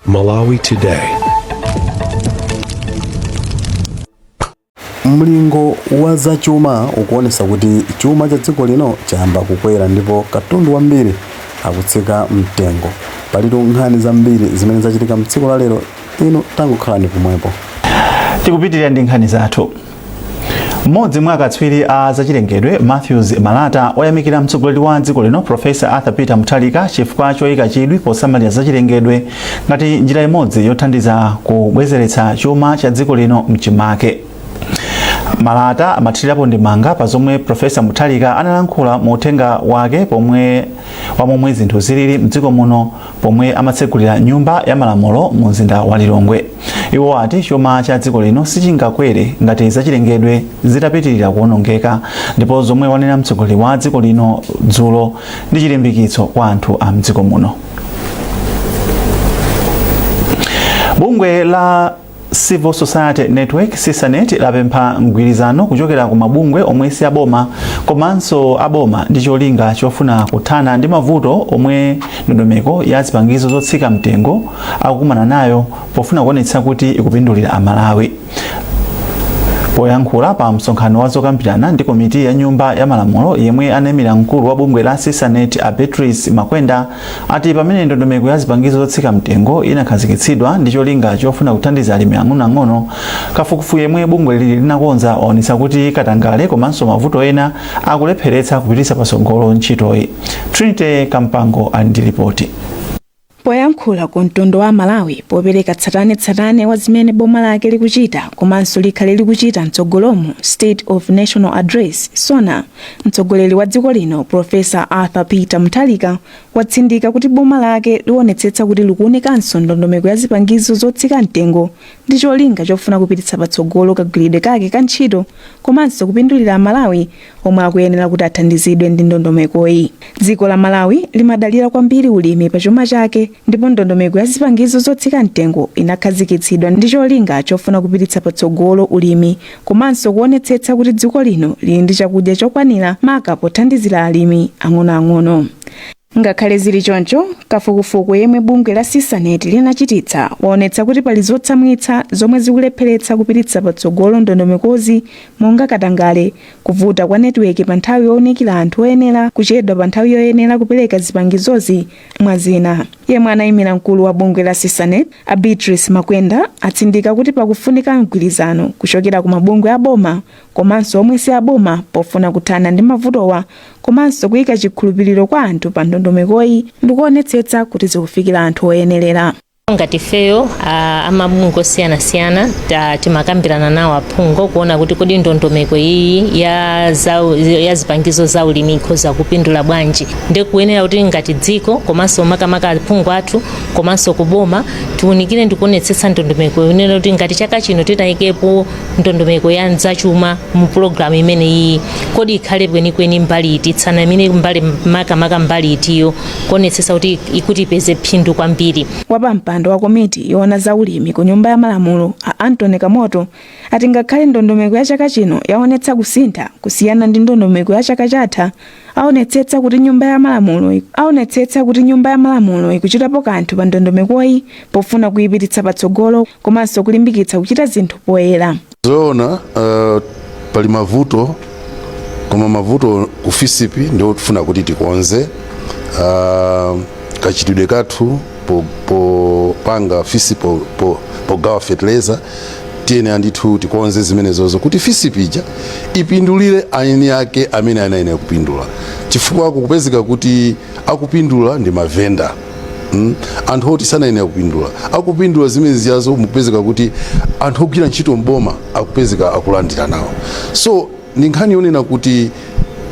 Malawi Today. mlingo wa zachuma ukuonesa kuti chuma cha dziko lino chayamba kukwera ndipo katundu wambiri akutsika mtengo palitu nkhani zambiri zimene zachitika mtsiku la lero inu tangokhalani pomwepo tikupitirira ndi nkhani zathu Mmodzi mwa akatswiri a zachilengedwe Matthews Malata wayamikira mtsogoleri wa dziko lino Profesa Arthur Peter Mutharika chifukwa choyika chidwi posamalira zachilengedwe ngati njira imodzi yothandiza kubwezeretsa chuma cha dziko lino mchimake. Malata amathirirapo ndemanga pa zomwe Profesa Mutharika analankhula mu uthenga wake pomwe wa momwe zinthu zilili mdziko muno pomwe amatsegulira nyumba ya malamulo mu mzinda wa Lilongwe. Iwo ati chuma cha dziko lino sichingakwere ngati zachilengedwe zitapitirira kuonongeka ndipo zomwe wanena mtsogoleri wa dziko lino dzulo ndi chilimbikitso kwa anthu a mdziko muno. Bungwe la Civil Society Network CisaNet lapempha mgwirizano kuchokera ku mabungwe omwe si aboma komanso aboma ndi cholinga chofuna kuthana ndi mavuto omwe ndondomeko ya zipangizo zotsika mtengo akukumana nayo pofuna kuonetsa kuti ikupindulira Amalawi. Poyankhula pa msonkhano wa zokambirana ndi komiti ya nyumba ya malamulo yemwe anaimira mkulu wa bungwe la CisaNet a Beatrice Makwenda ati pamene ndondomeko ya zipangizo zotsika mtengo inakhazikitsidwa ndi cholinga chofuna kuthandiza alimi ang'onoang'ono, kafukufuku yemwe bungweli linakonza waonetsa kuti katangale komanso mavuto ena akulepheretsa kupititsa patsogolo ntchitoyi. Trinity Kampango ali ndi lipoti. poyankhula ku mtundu wa Amalawi popereka tsatanetsatane wa zimene boma lake likuchita komanso likhale likuchita mtsogolomu state of nation address sona Mtsogoleri wa dziko lino Prof. Arthur Peter Mutharika watsindika kuti boma lake liwonetsetsa kuti likuunikanso ndondomeko ya zipangizo zotsika mtengo ndi cholinga chofuna kupititsa patsogolo kagwiridwe kake ka ntchito komanso kupindulira Amalawi omwe akuyenera kuti athandizidwe ndi ndondomekoyi. Dziko la Malawi limadalira kwambiri ulimi pa chuma chake ndipo ndondomeko ya zipangizo zotsika mtengo inakhazikitsidwa ndi cholinga chofuna kupititsa patsogolo ulimi komanso kuonetsetsa kuti dziko lino lili ndi chakudya chokwanira maka pothandizira alimi ang'onoang'ono ngakhale zili choncho kafukufuku yemwe bungwe la CisaNet linachititsa waonetsa kuti pali zotsamwitsa zomwe zikulepheretsa kupititsa patsogolo ndondomekozi monga katangale kuvuta kwa netiweki pa nthawi yowunikira anthu oyenera kuchedwa pa nthawi yoyenera kupereka zipangizozi Mwa zina, yemwe anaimira mkulu wa bungwe la CISANET, a Beatrice Makwenda, atsindika kuti pakufunika mgwirizano kuchokera ku mabungwe a boma komanso omwe si aboma pofuna kuthana ndi mavutowa komanso kuika chikhulupiriro kwa anthu pa ndondomekoyi ndi kuonetsetsa kuti zikufikira anthu oyenerera. ngati ifeyo amabungwe osiyanasiyana timakambirana nawo aphungu kuona kuti kodi ndondomeko iyi ya zipangizo za ulimi ikhoza kupindula bwanji ndi kuyenera kuti ngati dziko komanso makamaka aphungu athu komanso kuboma tiunikire ndi kuonetsetsa ndondomeko yoti ngati chaka chino titayikepo ndondomeko ya zachuma mu pulogalamu imene iyi kodi ikhale kwenikweni mbali iti, isanayambe mbali makamaka mbali itiyo kuonetsetsa kuti ikuti ipeze phindu kwambiri. Wapampando wa komiti yoona za ulimi ku Nyumba ya Malamulo a Anthony Kamoto ati ngakhale ndondomeko ya chaka chino yaonetsa kusintha kusiyana ndi ndondomeko ya chaka chatha, aonetsetsa kuti Nyumba ya Malamulo ikuchitapo kanthu pa ndondomekoyi pofuna kuipititsa patsogolo komanso kulimbikitsa kuchita zinthu poyera. zoona uh, pali mavuto koma mavuto ku fisipi ndio tifuna kuti tikonze uh, kachitidwe kathu popanga fisipi pogawa fertilizer tiyene andithu tikonze zimenezozo kuti fisipi ija ipindulire eni ake amene anayenera kupindula chifukwa kukupezeka kuti akupindula ndi mavenda anthu oti sanayenera kupindula akupindula zimenezizo mukupezeka kuti anthu ogwira ntchito mboma akupezeka akulandira nawo so ndi nkhani yonena kuti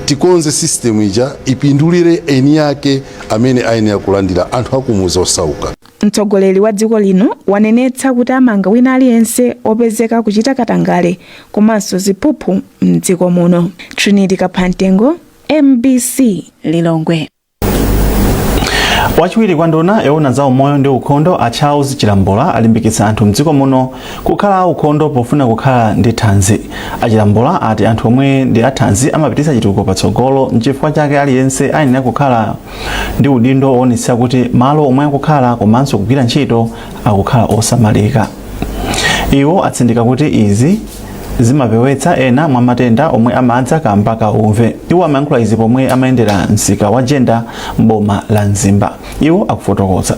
tikonze system ija ipindulire eni ake amene ayenera kulandira anthu akumuzi osauka mtsogoleri wa dziko lino wanenetsa kuti amanga wina aliyense opezeka kuchita katangale komanso ziphuphu mdziko muno trinity kaphamtengo mbc lilongwe wachiwiri kwa nduna yoona za umoyo ndi ukhondo a charles chilambula alimbikitsa anthu mdziko muno kukhala aukhondo pofuna kukhala ndi thanzi a chilambula ati anthu omwe ndi athanzi amapititsa chitukuko patsogolo nchifukwa chake aliyense ayenera kukhala ndi udindo woonetsa kuti malo omwe akukhala komanso kugwira ntchito akukhala osamalika iwo atsindika kuti izi zimapewetsa ena mwa matenda omwe amadza kamba ka umve iwo amayankhula izi pomwe amayendera msika wa jenda mboma la mzimba iwo akufotokoza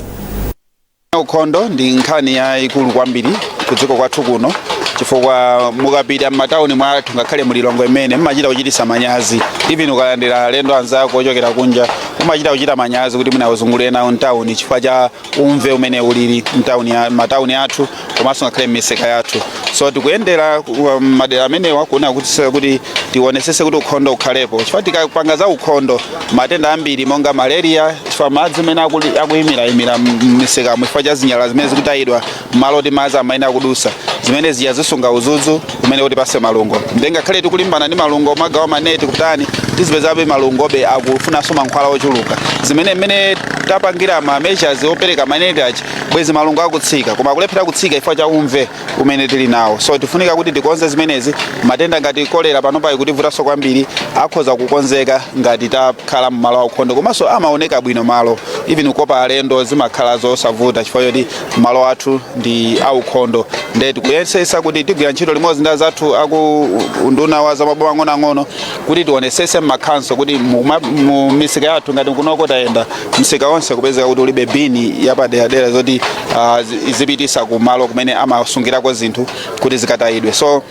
ukhondo ndi nkhani yayikulu kwambiri ku dziko kwathu kuno chifukwa mukapita m'matawuni mwathu ngakhale mu Lilongwe imene mmachita kuchititsa manyazi even ukalandira alendo anzako ochokera kunja umachita kuchita manyazi kuti mwina uzungulire nawo mtawuni chifukwa cha umve umene ulili mtauni ya- matauni athu komanso ngakhale m'misika yathu so tikuyendera ku- madera amenewa kuona kuti se- kuti tionesese kuti ukhondo ukhalepo chifukwa tikapanga za ukhondo matenda ambiri monga malaria chifukwa madzi amene akuli- akuyimiraimira m'misikamo chifukwa cha zinyalala zimene zikutayidwa m'malo oti madzi amayenera kudusa zimene zija zisunga udzudzu umene utipase malungo nde ngakhale tikulimbana ndi malungo kugawa maneti kutani tizipezabe malungobe akufunanso mankhwala ochuluka zimene mmene tapangira ma measures opereka maneti achi bwezi malungo akutsika koma akulephera kutsika chifukwa cha umve umene tili nawo so tifunika kuti tikonze zimenezi matenda ngati kolera panopa ikutivutanso kwambiri akhoza kukonzeka ngati takhala mmalo aukhondo komanso amaoneka bwino malo even kukopa alendo zimakhala zosavuta chifukwa choti malo athu ndi aukhondo nde tikuyesesa kuti tigwira ntchito limodzi ndi azathu aku unduna wa zamaboma ang'onoang'ono kuti tionesese m'makhonsolo kuti mu ma- mu misika yathu ngati kunoko tayenda msika wonse kupezeka kuti ulibe bini yapaderadera zoti ah, zi- zipitisa kumalo kumene amasungirako zinthu kuti zikatayidwe so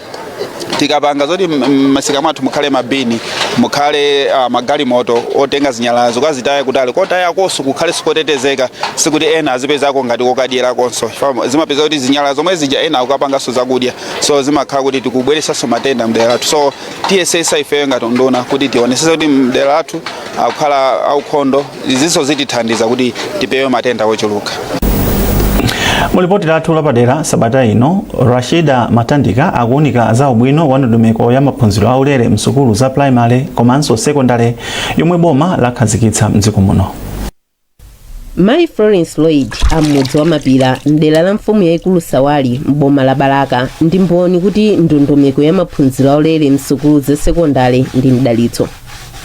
tikapanga zoti m- m- masika mwathu mukhale mabini mukhale uh, magalimoto otenga zinyalalazo kukazitaya kutali kotayakonso kukhale kotetezeka sikuti ena azipezako ngati kokadyerakonso Chifukwa zimapeza kuti zinyalala zomwe zija ena akukapanganso zakudya so zimakhala kuti tikubweresanso matenda mdera lathu so tiyesesa ifeyo ngati unduna kuti tionesese kuti madera athu akukhala aukhondo izinso zitithandiza kuti tipewe matenda ochuluka mu lipoti lathu lapadera sabata ino rashida matandika akuwunika za ubwino wa ndondomeko ya maphunziro aulere msukulu za primary komanso sekondale yomwe boma lakhazikitsa mdziko muno mayi florence lloyd am'mudzi wa mapira mdera la mfumu yayikulu sawali m'boma la balaka ndi mboni kuti ndondomeko ya maphunziro aulere msukulu za sekondale ndi mdalitso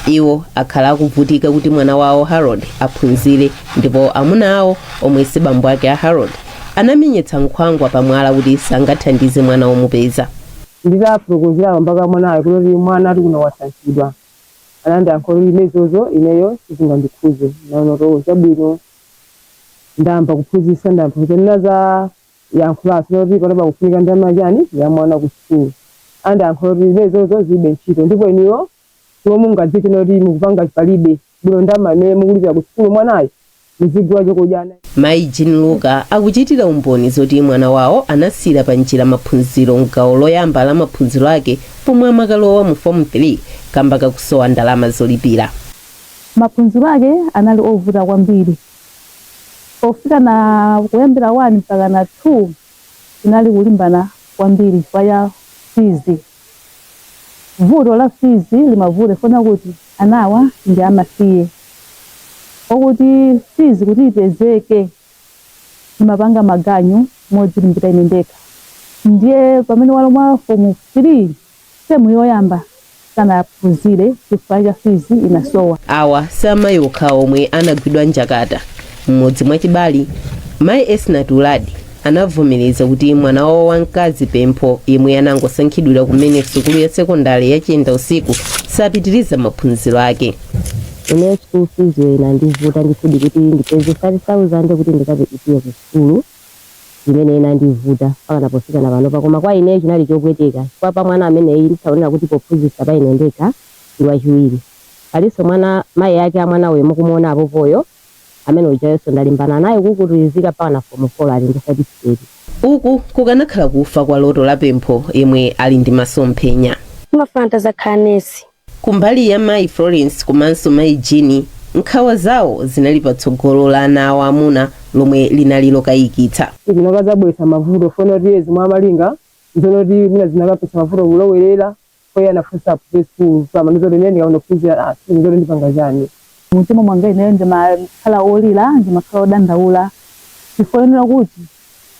iwo akhala akuvutika kuti mwana wawo harold aphunzire ndipo amuna awo omwe si bambo ake a harold anamenyetsa nkhwangwa pamwala kuti sangathandize mwana womupeza nditafotokozera bambo ake a mwanayo kuti mwana ati kuno wasankhidwa anandiyankha kuti ine zozo ineyo sizingandikhuze naona kuti chabwino ndayamba kuphunzitsa ndayamba ndinanena za yankhulanso zoti panopa kufunika ndalama yachani ya mwana ku school anandiyankha zoti ine zozo zilibe ntchito ndipo inuyo chomwe mungadziwe n'zoti mukupanga pali bwino ndalama imene mukulipira ku school mwanayo muzigula chokudya ana Mayi Jean Luka akuchitira umboni zoti mwana wawo anasiyira pa njira maphunziro m'gawo loyamba la maphunziro ake pomwe amakalowa mu fomu 3 kamba kakusowa ndalama zolipira. Maphunziro ake anali ovuta kwambiri pofika na kuyambira 1 mpaka na 2 inali kulimbana kwambiri chifukwa ya fizi vuto la fizi limavuta chifukwa kuti anawa ndi amasiye okuti fizi kuti ipezeke ndimapanga maganyu modzilimbira ine ndekha ndiye pamene walowa fomu 3 Term yoyamba sanaphunzire chifukwa cha fees inasowa. Awa si amayi okha omwe anagwidwa njakata. M'mudzi mwa Chibali, mayi Esnat Uladi anavomereza kuti mwana wawo wamkazi Pempho yemwe anangosankhidwira kumene sukulu ya sekondale ya Chiendausiku sapitiriza maphunziro ake. Ine school fees-yo inandivuta ndithudi kuti ndipeze 5,000 kuti ndikalipire ku sukulu. imene inandivuta mpakana pofika na panopa koma kwa ineyo chinali chopweteka chifukwa pa mwana ameneyi ndisaonera kuti pophunzitsa pa ine ndekha ndi wachiwiri palinso mwana mayi ake a mwana uyu mukumuona apopoyo amene ujayonso ndalimbana naye kukutulidzika mpakana fomu folo ali ndi satifiketi Uku kukanakhala kufa kwa loto la Pempho yemwe ali ndi masomphenya. Ndimafuna nditazakhala nesi Kumbali ya mayi Florence komanso mayi Jean, nkhawa zawo zinali pa tsogolo la ana awo amuna lomwe linali lokayikitsa. Zinakazabweretsa mavuto chifukwa choti iye zomwe amalinga nzonoti mwina zinakapezetsa mavuto kulowerera chifukwa iye anafuna aphunzire sukulu koma anapeza kuti ine ndikaona kuphunzira aah sindikudziwa kuti ndipanga chani Mumtima mwanga ineyo ndimakhala wolira, ndimakhala wodandaula chifukwa chonena kuti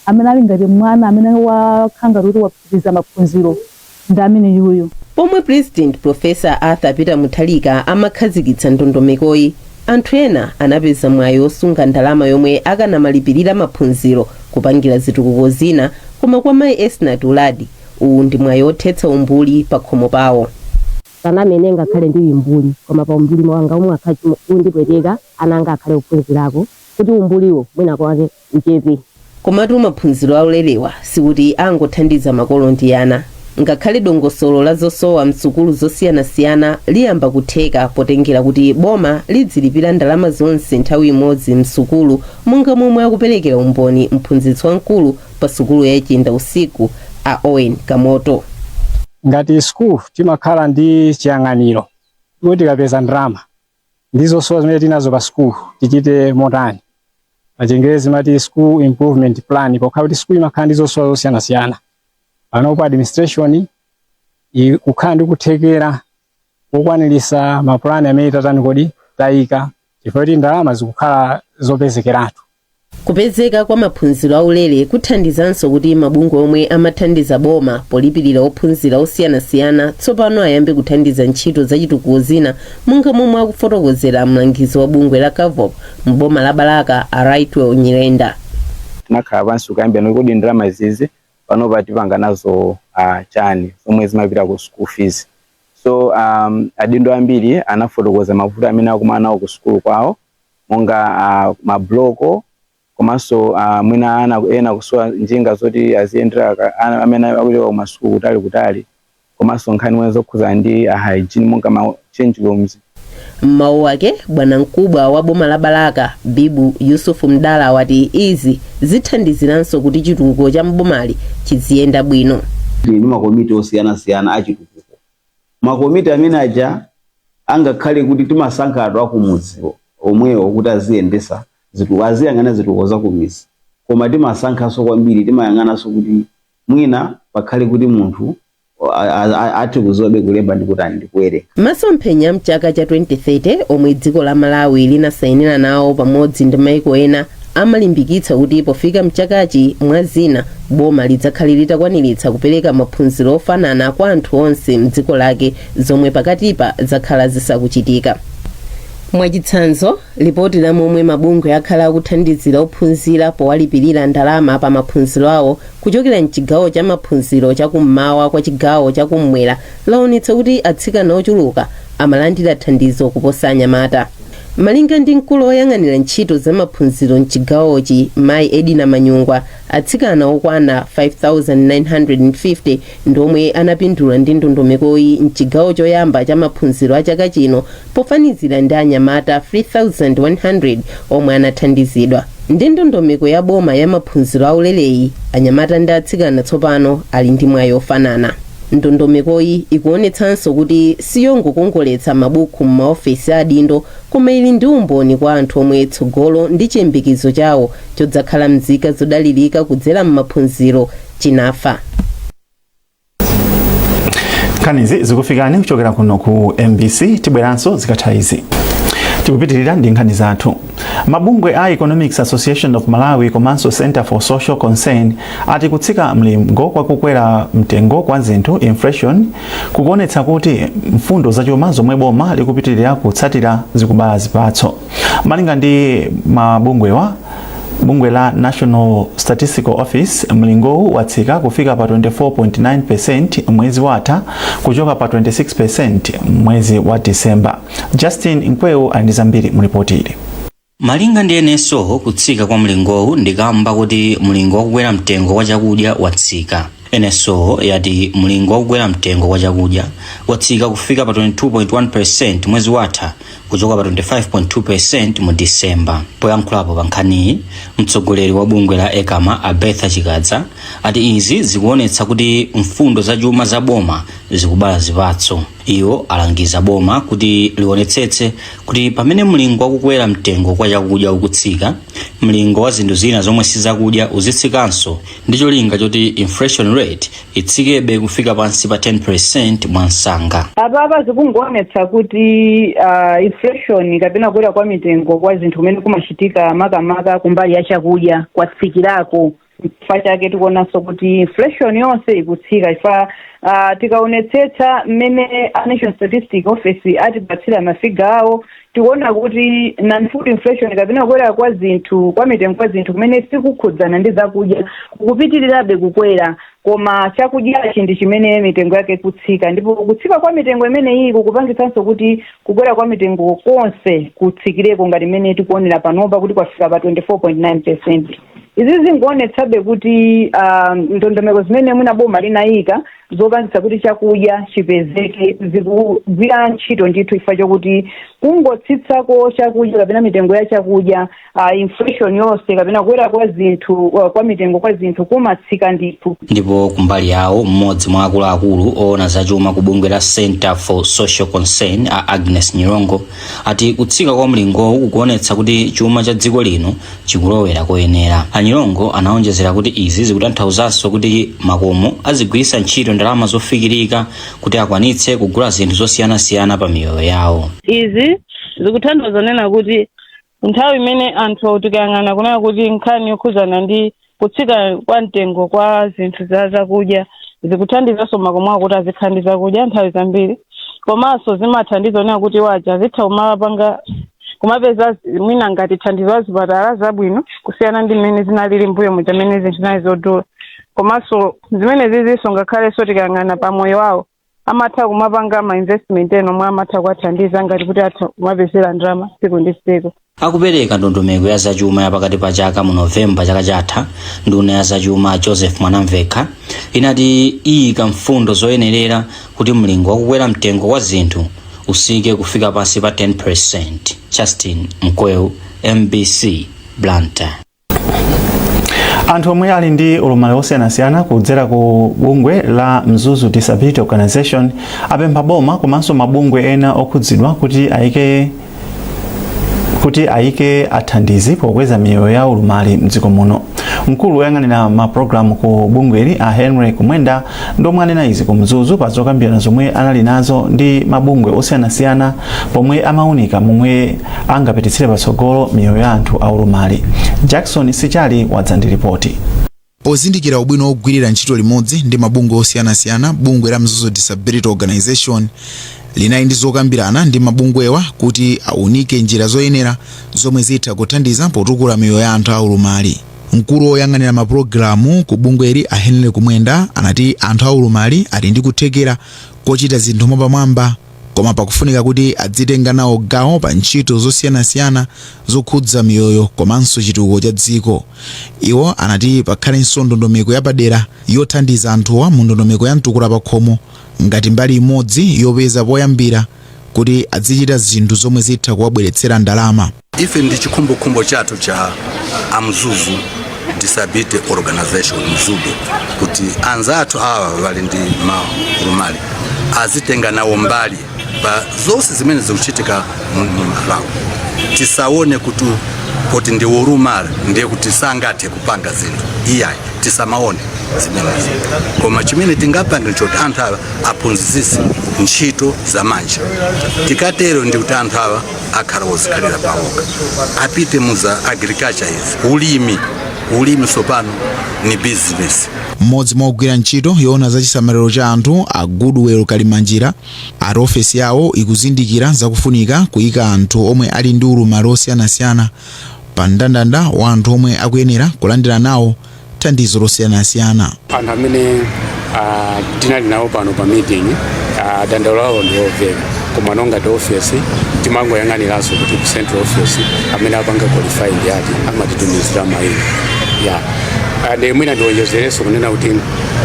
amene ali ngati mwana amene wakhala ngati kuti wapitiriza maphunziro ndi ameneyuyu. Pomwe Pulezidenti Professor Arthur Peter Mutharika amakhazikitsa ndondomekoyi, anthu ena anapeza mwayi wosunga ndalama yomwe akanamalipirira maphunziro, kupangira zitukuko zina koma kwa mayi Esnat Uladi, uwu ndi mwayi wothetsa umbuli pakhomo pawo. Sanamene ngakhale ndili mbuli koma pa umbuli wanga omwewu ukhala undipweteka ana anga akhale ophunzirako kuti umbuliwo mwina kwake uchepe. Komatu maphunziro aulerewa sikuti angothandiza makolo ndi ana. Ngakhale dongosolo la zosowa m'sukulu zosiyanasiyana liyamba kutheka potengera kuti boma lidzilipira ndalama zonse nthawi imodzi m'sukulu monga momwe akuperekera umboni mphunzitsi wamkulu pasukulu ya Chiendausiku a Owen Kamoto. Ngati school timakhala ndi chiyang'aniro kuti tikapeza ndalama ndi zosowa zimene tili nazo pa school tichite motani. Pachingerezi timati school improvement plan pokhala kuti school imakhala ndi zosowa zosiyanasiyana. Panopo administration ikukhala ndi kuthekera kukwanirisa mapulani amene tatani poti tayika chifukwa choti ndalama zikukhala zopezekeratu kupezeka kwa maphunziro aulere kuthandizanso kuti mabungwe omwe amathandiza boma polipirira ophunzira osiyanasiyana tsopano ayambe kuthandiza ntchito zachitukuko zina monga momwe akufotokozera mlangizi wa bungwe la cavop m'boma la balaka a rightwell nyirenda tinakhala pansi kukambirana kuti kodi ndalama izizi panopa tipanga nazo uh, chani zomwe zimapita ku school fees so um, adindo ambiri anafotokoza mavuto amene akumana nawo ku sukulu kwawo monga uh, mabloko komanso uh, mwina ana ena kusowa njinga zoti aziyendera amene akulowera kumasukulu kutali kutali komanso nkhani mwina zokhudzana ndi hygiene monga ma change rooms M'mawu ake bwanamkubwa wa boma la Balaka Bibu Yusufu Mdala wati izi zithandiziranso kuti chitukuko cha mbomali chiziyenda bwino. ndi ndi makomiti osiyanasiyana achitukuko makomiti amene aja angakhale kuti timasankha anthu akumudzi omwewo kuti aziyendetsa zitu- aziyang'ana zitukuko zakumidzi koma timasankhanso kwambiri timayang'ananso kuti mwina pakhale kuti munthu a- a- a- athe kudziwa kulemba ndi kutani ndi kuwerenga masomphenya a mchaka cha 2030 omwe dziko la malawi linasainira nawo pamodzi ndi maiko ena amalimbikitsa kuti pofika mchakachi mwa zina boma lidzakhale litakwaniritsa kupereka maphunziro ofanana kwa anthu onse mdziko lake zomwe pakatipa zakhala zisakuchitika mwachitsanzo Lipoti la momwe mabungwe akhala akuthandizira ophunzira powalipirira ndalama pa maphunziro awo kuchokera m'chigawo cha maphunziro cha kum'mawa kwa chigawo cha kum'mwera lawonetsa kuti atsikana ochuluka amalandira thandizo kuposa anyamata. Malinga ndi mkulu oyang'anira ntchito za maphunziro m'chigawochi Mayi Edina Manyungwa, Atsikana okwana 5,950 ndi omwe anapindula ndi ndondomekoyi m'chigawo choyamba cha maphunziro a chaka chino pofanizira ndi anyamata 3,100 omwe anathandizidwa. Ndi ndondomeko ya boma ya maphunziro aulereyi, anyamata ndi atsikana tsopano ali ndi mwayi ofanana. Ndondomekoyi ikuonetsanso kuti siyongokongoletsa mabuku m'maofesi a adindo koma ili ndi umboni kwa anthu omwe tsogolo ndi chiyembekezo chawo chodzakhala mzika zodalirika kudzera m'maphunziro chinafa nkhanizi zikufikani kuchokera kuno ku mbc tibweranso zikatha izi tikupitirira ndi nkhani zathu mabungwe a economics association of malawi komanso center for social concern ati kutsika mlingo kwa kukwera mtengo kwa zinthu inflation kukuonetsa kuti mfundo zachuma zomwe boma likupitirira kutsatira zikubala zipatso malinga ndi mabungwewa bungwe la national statistical office mlingowu watsika kufika pa 24.9 mwezi watha kuchoka pa 26 mwezi wa disemba justin mkwewu ali ndi zambiri mulipoti ili malinga ndi NSO kutsika kwa mlingowu ndikamba kuti mlingo wakukwera mtengo wa chakudya watsika NSO yati mlingo wakukwera mtengo wa chakudya watsika kufika pa 22.1 mwezi watha kuchoka pa 25.2% mu Disemba. Poyankhulapo pa nkhaniyi, mtsogoleri wa bungwe la ECAMA a Bertha Chikadza ati izi zikuonetsa kuti mfundo za chuma za boma zikubala zipatso. Iwo alangiza boma kuti lionetsetse kuti pamene mlingo wakukwera mtengo kwa chakudya ukutsika, mlingo wa zinthu zina zomwe sizakudya uzitsikanso ndi cholinga choti inflation rate itsikebe kufika pansi pa 10% mwamsanga. apapa zikungoonetsa kuti uh, inflation kapena kukwera kwa mitengo kwa zinthu kumene kumachitika makamaka kumbali ya chakudya kwatsikirako chifukwa chake tikuonanso kuti inflation yonse ikutsika chifukwa uh, tikaonetsetsa mmene a national statistic office atipatsira mafiga awo tikuona kuti non food inflation kapena kukwera kwa zinthu kwa mitengo kwa zinthu kumene sikukhudzana ndi zakudya kukupitirirabe kukwera koma chakudyachi ndi chimene mitengo yake ikutsika ndipo kutsika kwa mitengo imeneyi kukupangitsanso kuti kukwera kwa mitengo konse kutsikireko ngati mmene tikuonera panopa kuti kwafika pa 24.9 percent izi zikungoonetsabe kuti ah, ndondomeko zimene mwina boma linayika zopangitsa kuti chakudya chipezeke zikugwira ntchito ndithu chifukwa chokuti kungotsitsako chakudya kapena mitengo ya chakudya uh, inflation yonse kapena kukwera kwa zinthu uh, kwa mitengo kwa zinthu kumatsika ndithu ndipo kumbali yawo mmodzi mwa akuluakulu oona zachuma ku bungwe la centre for social concern a agnes nyirongo ati kutsika kwa mlingowu kukuonetsa kuti chuma cha dziko lino chikulowera koyenera. A Nyirongo anaonjezera kuti izi zikutanthauzanso kuti makomo azigwiritsa ntchito ndalama zofikirika kuti akwanitse kugula zinthu zosiyanasiyana pa miyoyo yawo. izi zikutanthauza kunena kuti nthawi imene anthu tikayang'ana kunena kuti nkhani yokhudzana ndi kutsika kwa mtengo kwa zinthu za zakudya zikuthandizanso makomo kuti azikhala ndi zakudya nthawi zambiri komanso zimathandiza kunena kuti waja azitha kumapanga kumapeza zi- mwina ngati thandizo za zipatala zabwino kusiyana ndi mmene zinalili mbuyo muja mmene zinthu zinali zodula komanso zimene zizinso ngakhalenso tikayang'ana pa moyo wawo amatha kumapanga ma investment ena omwe amatha kuwathandiza ngati kuti atha kumapezera ndalama tsiku ndi tsiku akupereka ndondomeko ya zachuma ya pakati pa chaka mu novemba chaka chatha nduna ya zachuma joseph mwanamvekha inati iyika mfundo zoyenerera kuti mlingo wakukwera mtengo wa zinthu utsike kufika pansi pa 10 justin mkweu mbc blantyre anthu omwe ali ndi ulumali wosiyanasiyana kudzera ku bungwe la mzuzu disability organization apempha boma komanso mabungwe ena okhudzidwa kuti ayike athandizi pokweza miyoyo ya ulumali mdziko muno mkulu woyang'anira mapulogalamu ku bungweli a henry kumwenda Ndi omwe anena izi ku Mzuzu pa zokambirana zomwe anali nazo ndi mabungwe osiyanasiyana pomwe amaunika momwe angapititsire patsogolo miyoyo ya anthu aulumali. Jackson Sichali wadza ndi lipoti. Pozindikira ubwino wogwirira ntchito limodzi ndi mabungwe osiyanasiyana, bungwe la Mzuzu Disability Organization linali ndi zokambirana ndi mabungwewa kuti aunike njira zoyenera zomwe zitha kuthandiza potukula miyoyo ya anthu aulumali. Mkulu woyang'anira ma pulogalamu ku bungweli a Henry Kumwenda anati anthu a ulumali ali ndi kuthekera kochita zinthu mwapamwamba koma pakufunika kuti adzitenga nawo gawo pa ntchito zosiyanasiyana zokhudza miyoyo komanso chitukuko cha dziko. Iwo anati pakhalenso ndondomeko yapadera yothandiza anthuwa mu ndondomeko ya mtukula pakhomo ngati mbali imodzi yopeza poyambira kuti adzichita zinthu zomwe zitha kuwabweretsera ndalama. ife ndi chikhumbokhumbo chathu cha amzuzu disability organization mzudo kuti anzathu awa wali ndi maulumali azitenga nawo mbali pa zonse zimene zikuchitika m'malawi tisaone kuti poti ndi ulumali ndiye kuti sangathe kupanga zinthu iyayi tisamaone zimenezi koma chimene tingapange nchoti anthu awa aphunzitsidwe ntchito za manja tikatero ndi kuti anthu awa akhala ozikhalira pawokha apite muza agriculture izi ulimi ulimi sopano ni business mmodzi mwa ogwira ntchito yoona za chisamaliro cha anthu a goodwell kalimanjira ati ofesi yawo ikuzindikira zakufunika kuyika anthu omwe ali ndi ulumali osiyanasiyana pa mndandanda wa anthu omwe akuyenera kulandira nawo thandizo losiyanasiyana anthu amene ah, tinali nawo pano pa meeting ah, dandaulo lawo ndi lomveka koma monga ngati office timangoyang'aniranso kuti ku central office amene apanga qualify ndi eti amatitumizira maina Ah, nde mwina ndionjezerenso kunena kuti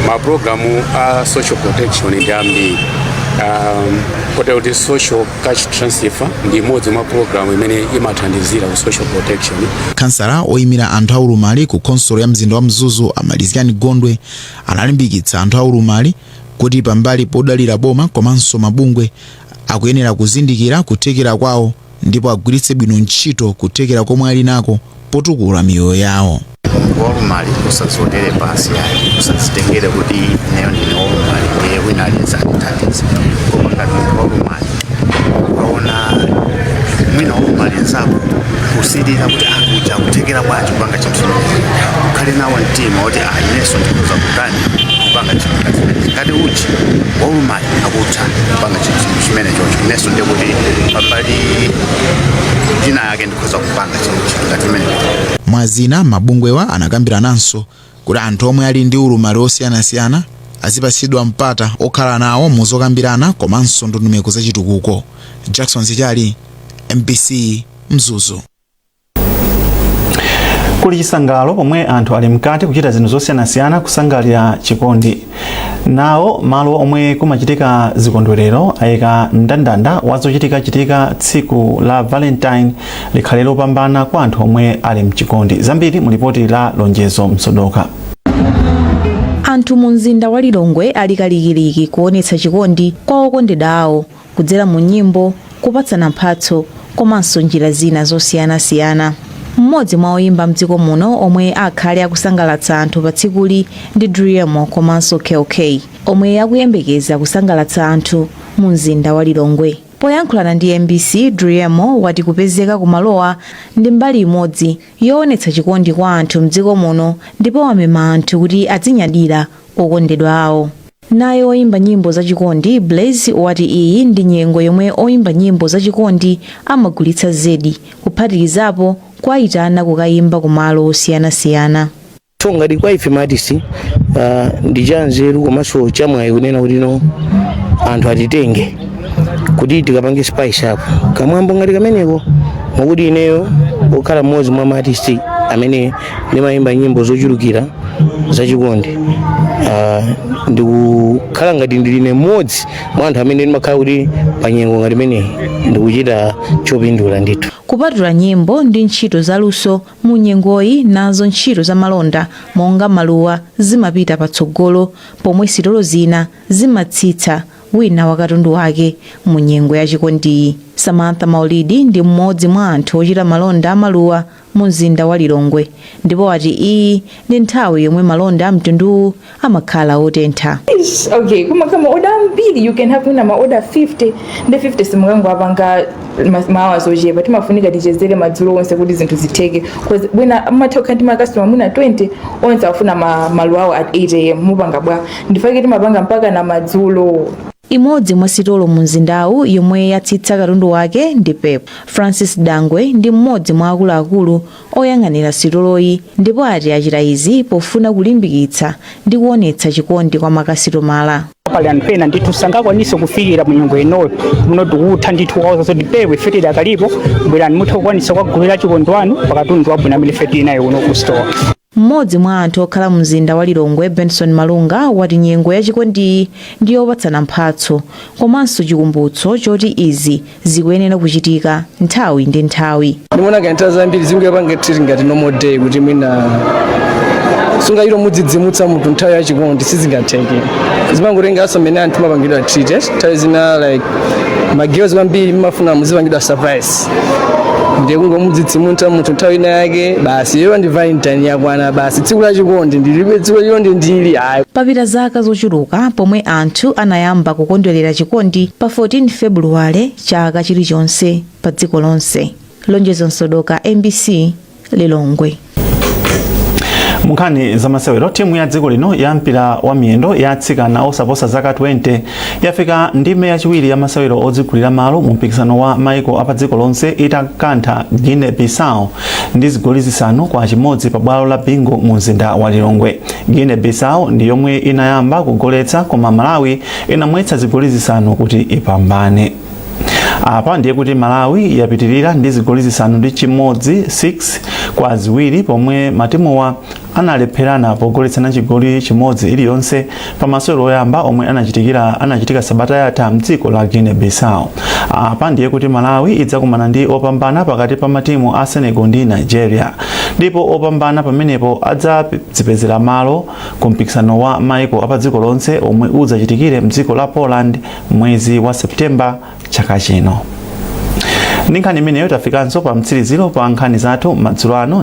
maprogramu a social protection ndi ambiri um, kotero kuti social cash transfer ndi imodzi mwa pulogalamu imene imathandizira ku social protection kansala oyimira anthu aulumali ku khonsolo ya mzinda wa mzuzu a malizgani gondwe analimbikitsa anthu aulumali kuti pambali podalira boma komanso mabungwe akuyenera kuzindikira kuthekera kwawo ndipo agwiritse bwino ntchito kuthekera komwe ali nako potukula miyoyo yawo munthu waulumali usaziwonere pansi yayi usazitengere kuti ineyo ndine waulumali ndiye wina aliyense andithandize koma ngati munthu waulumali ukaona mwina waulumali nzako usilira kuti akutha kuthekera bwanji kupanga chinthu chimenechi ukhale nawo mtima woti ah inenso ndikhoza kutani kupanga chinthu ngati chimenechi ngati uja waulumali akutha kupanga chinthu chimenechocho inenso ndiye kuti pambali ina yake ndikhoza kupanga chinthu ngati chimene mwazina mabungwewa anakambirananso kuti anthu omwe ali ndi ulumali wosiyanasiyana azipatsidwa mpata okhala nawo mu zokambirana komanso ndondomeko za chitukuko jackson sichali mbc mzuzu kuli chisangalalo pomwe anthu ali mkati kuchita zinthu zosiyanasiyana kusangalira chikondi nawo malo omwe kumachitika zikondwerero ayika mndandanda wa zochitikachitika tsiku la valentine likhale lopambana kwa anthu omwe ali mchikondi zambiri mu lipoti la lonjezo msodoka anthu mu mzinda wa lilongwe ali kalikiliki kuonetsa chikondi kwa okondedwa awo kudzera mu nyimbo, kupatsana mphatso komanso njira zina zosiyanasiyana. Mmodzi mwa oyimba mdziko muno omwe akhale akusangalatsa anthu pa tsikuli ndi Driemo komanso Kell Kay omwe akuyembekeza kusangalatsa anthu mu mzinda wa Lilongwe. Poyankhulana ndi mbc, Driemo wati kupezeka ku malowa ndi mbali imodzi yowonetsa chikondi kwa anthu mdziko muno ndipo wamema anthu kuti adzinyadira okondedwa awo. Naye woyimba nyimbo za chikondi, Blaze, wati iyi ndi nyengo yomwe oyimba nyimbo za chikondi amagulitsa zedi, kuphatikizapo kuwayitana kukayimba ku malo osiyana siyana. So ngati kwa ife ma artist uh, ndi cha nzeru komanso cha mwayi kunena kuti no anthu atitenge kuti tikapange spice up kamwambo ngati kameneko mwakuti ineyo okhala mmodzi mwa ma artist amene ndimayimba nyimbo zochulukira zachikondi Ah, ndikukhala ngati ndili ine mmodzi mwa anthu amene ndimakhala kuti pa nyengo ngati imeneyi ndikuchita chopindula ndithu kupatula nyimbo ndi ntchito zaluso mu nyengoyi nazo ntchito za malonda monga maluwa zimapita patsogolo pomwe sitolo zina zimatsitsa wina wa katundu wake mu nyengo ya chikondiyi samantha maulidi ndi mmodzi mwa anthu ochita malonda amaluwa mumzinda wa Lilongwe ndipo ati iyi ndi nthawi yomwe malonda a mtunduwu amakhala otentha. Eish, okay kumakhala ma order ambiri you can have mwina ma order 50 ndi 50 sungangowapanga ma hours ochepa timafunika tichezere madzulo onse kuti zinthu zitheke cause mwina umatha kukhala ndi makastoma mwina 20 onse afuna ma- maluwa awo at 8 am mupanga bwa ndi chake timapanga mpaka na madzulo Imodzi mwa sitolo mu mzindawu yomwe yatsitsa katundu wake ndi Pep. Francis Dangwe ndi mmodzi mwa akuluakulu oyang'anira sitoloyi ndipo ati achita izi pofuna kulimbikitsa ndi kuonetsa chikondi kwa makasitomala. pali anthu ena ndithu sangakwanise kufikira mu nyengo inoyo muno tikutha ndithu kwawuza zoti Pep ife tidakalipo bwerani muthe kukwanisa kwagulira achikondi anu pakatundu wabwino amene ife tili naye kuno ku store M'modzi mwa anthu okhala mumzinda wa Lilongwe Benson Malunga wati nyengo ya chikondiyi ndi yopatsana mphatso komanso chikumbutso choti izi zikuyenera kuchitika nthawi ndi nthawi. Ndimona ngati nthawi zambiri sindiyipanga treat ngati normal day kuti mwina sungachite kumudzidzimutsa munthu nthawi ya chikondi sizingatheke zimangotenganso mmene anthu mmapangidwa treat nthawi zina like magirls kwambiri mmafuna muzipangidwa surprise basi ndiye kungomudzidzimutsa munthu nthawi ina yake basi iyo ndi valentine yakwana basi tsiku la chikondi ndilibe tsiku la chikondi ndili ayi papita dzaka zochuluka pomwe anthu anayamba kukondwerera chikondi pa 14 februwale chaka chilichonse pa dziko lonse lonjezo msodoka mbc lilongwe munkhani zamasewero timu ya dziko lino ya mpira wa miyendo ya atsikana osaposa zaka 20 yafika ndime yachiwiri ya masewero odzigulira malo mu mpikisano wa maiko apa dziko lonse itakantha guinea bissau ndi zigoli zisanu kwa chimodzi pa bwalo la bingu mu mzinda wa lilongwe guinea bissau ndi yomwe inayamba kugoletsa koma malawi inamwetsa zigoli zisanu kuti ipambane apa ndiye kuti malawi yapitirira ndi zigoli zisanu ndi chimodzi 6 kwa ziwiri pomwe matimuwa analepherana pogoletsana chigoli chimodzi iliyonse pa masewero oyamba omwe anachitikira anachitika sabata yatha mdziko la guinea bissau apa ndiye kuti malawi idzakumana ndi opambana pakati pa matimu a senegal ndi nigeria ndipo opambana pamenepo adzadzipezera malo ku mpikisano wa maiko apadziko lonse omwe udzachitikire mdziko la poland mwezi wa September chaka chino. Ndi nkhani imeneyo tafikanso pa mtsiriziro pa nkhani zathu madzulo ano.